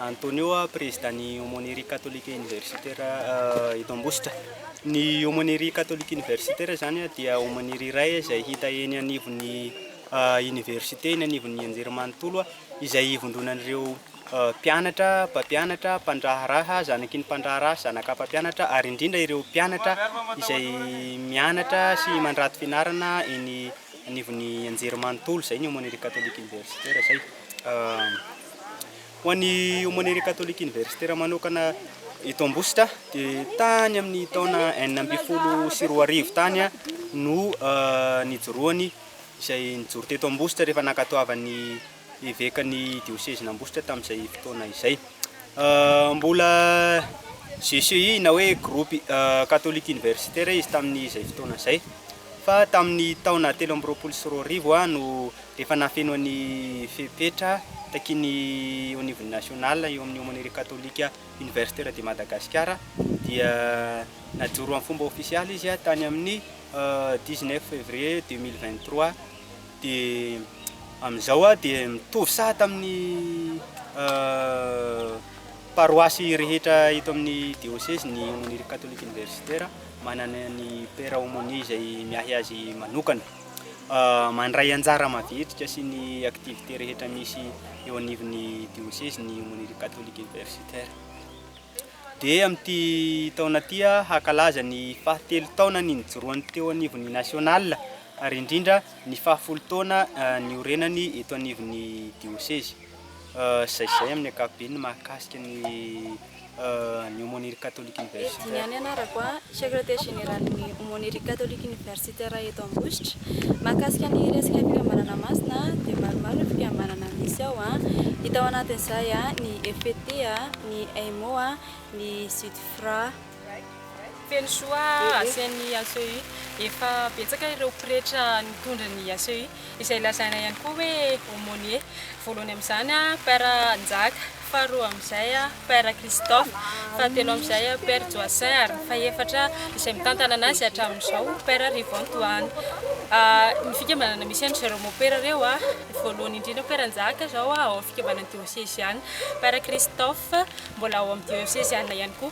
Antonio, Prezidàn'ny Aumônerie Catholique Universitaire eto Ambositra. Ny Aumônerie Catholique Universitaire zany dia Aumônerie iray izay hita eny anivon'ny Université, eny anivon'ny Anjerimanontolo, izay ivondronan'ireo Mpianatra, mpampianatra, mpandraharaha, zanaky ny mpandraharaha sy zanaka mpampianatra ary indrindra ireo mpianatra izay mianatra sy mandrato fianarana eny anivon'ny Anjerimanontolo. Izay ny Aumônerie Catholique Universitaire izay. Ho an'ny Aumônerie Catholique Universitaire manokana eto Ambositra dia tany amin'ny taona enina ambin'ny folo sy roa arivo tany no nijoroany izay nijoro teto Ambositra rehefa nankatoavan'ny Evekan'ny diosezin'Ambositra tamin'izay fotoana izay. Mbola GCUI na hoe Groupe Catholique Universitaire izy tamin'izay fotoana izay. Fa tamin'ny taona telo amby roapolo sy roa arivo no efa nafeno an'ny fepetra takian'ny eo anivon'ny National eo amin'ny Aumônerie Catholique Universitaire de Madagascar dia najoro amin'ny fomba ofisialy izy tany amin'ny dix-neuf février deux mille vingt-trois. Dia amin'izao aho dia mitovy saha tamin'ny paroasy rehetra eto amin'ny diosezy ny aumônerie catholique universitaire, manana ny père aumônier izay miahy azy manokana. Mandray anjara mavitrika sy ny activités rehetra misy eo anivon'ny diosezy ny aumônerie catholique universitaire. Dia amin'ity taona ity aho hankalaza ny fahatelo taonany nijoroany teo anivon'ny nationale ary indrindra ny faha folo taona niorenany eto anivon'ny diosezy, izay izay amin'ny ankapobeny ny mahakasika ny ny Aumônerie Catholique Universitaire. Eddy, ny anarako, Secrétaire Généralin'ny Aumônerie Catholique Universitaire eto Ambositra. Mahakasika ny resaka fikambanana masina dia maromaro ny fikambanana misy ao, hita ao anatin'izay ny FPT, ny AIMO, ny Sudfra. Feno soa asian'ny ACEI. Efa betsaka ireo pretra nitondra ny ACEI, izay lazaina ihany koa hoe aumônier. Voalohany amin'izany Père Njaka, faharoa amin'izay Père Christophe, fahatelo amin'izay Père Joacin ary ny fahefatra izay mitantana anazy hatramin'izao Père Rivon Tohana. Ny fikambanana misy an-dry zareo môpera ireo, voalohany indrindra Père Njaka izao ao amin'ny fikambanan'ny diôseziana, Père Christophe mbola ao amin'ny diôseziana ihany koa.